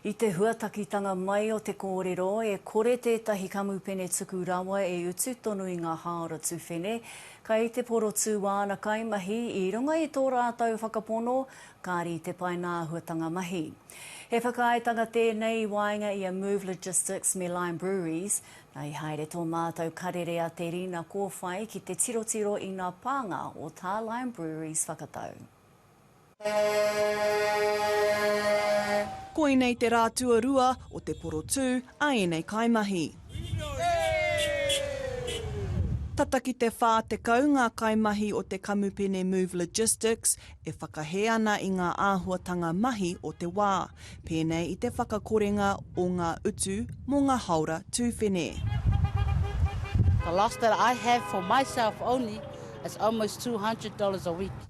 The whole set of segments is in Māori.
I te huatakitanga mai o te kōrero, e kore tētahi kamupene tuku rawa e utu tonu i ngā hāora tuwhene. Kai te porotū āna kaimahi, i runga i tō rātou whakapono, kāri i te paenga āhuatanga mahi. He whakaaetanga tēnei i waenga i a Move Logistics me Lime Breweries, nā i haere tō mātou karere a Te Rina Kōwhai ki te tirotiro i ngā pānga o tā Lime Breweries whakatau. Koinei te rā tuarua o te porotū a ēnei kaimahi. Tata ki te 40 ngā kaimahi o te kamupene Move Logistics e whakahē ana i ngā āhuatanga mahi o te wā, pēnei i te whakakorenga o ngā utu mō ngā haora tūwhene.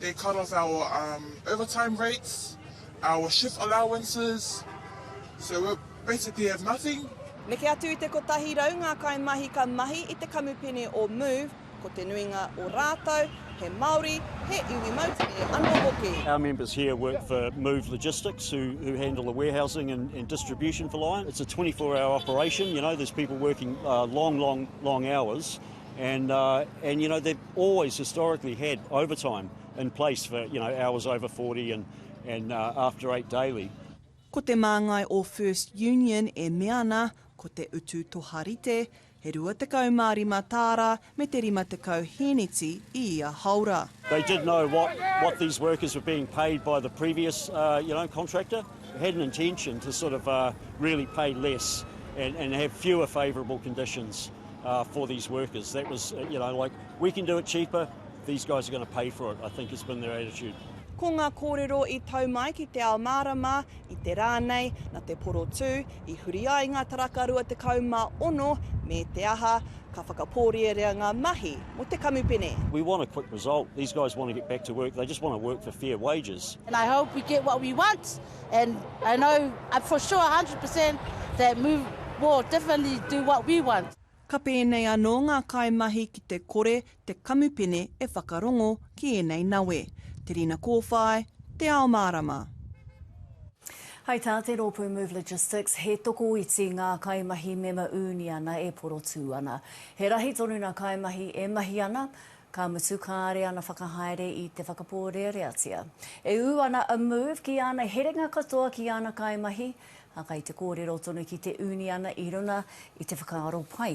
They cut off our overtime rates, our shift allowances, so we basically have nothing. Neke atu i te kotahi rau ngā kaimahi ka mahi i te kamupene o Move, ko te nuinga o rātou, he Māori, he iwi moutere anō hoki. Our members here work for Move Logistics, who, who handle the warehousing and, and distribution for Lion. It's a 24 hour operation, you know, there's people working uh, long, long, long hours. And uh, and you know they've always historically had overtime in place for you know hours over 40 and and uh, after eight daily. Ko te māngai o First Union e mea ana ko te utu toharite he 25 tāra me te 50 hēneti i ia haora. They did know what, what these workers were being paid by the previous uh, you know, contractor. had an intention to sort of really pay less and and have fewer favourable conditions for these workers. That was, you know, like we can do it cheaper, these guys are going to pay for it, I think has been their attitude. Ko ngā kōrero i tau mai ki te ao mārama, i te rā nei, na te porotū, i huri ai ngā taraka 26 me te aha, Ka whakapōrierea ngā mahi mō te kamupene. We want a quick result. These guys want to get back to work. They just want to work for fair wages. And I hope we get what we want. And I know uh, for sure 100% that Move will definitely do what we want. Ka pēnei anō ngā kaimahi ki te kore te kamupene e whakarongo ki ēnei nawe, te rina kōwhai, te ao mārama. Hai tā te rōpū Move Logistics, he tokoiti ngā kaimahi mema uniana e porotū ana. He rahi tonu nā kaimahi e mahi ana, ka mutu kāre ana whakahaere i te whakapōreareatia. E ū ana a Move ki āna herenga katoa ki āna kaimahi, ā, kai te kōrero tonu ki te uniana i runga i te whakaaro pai.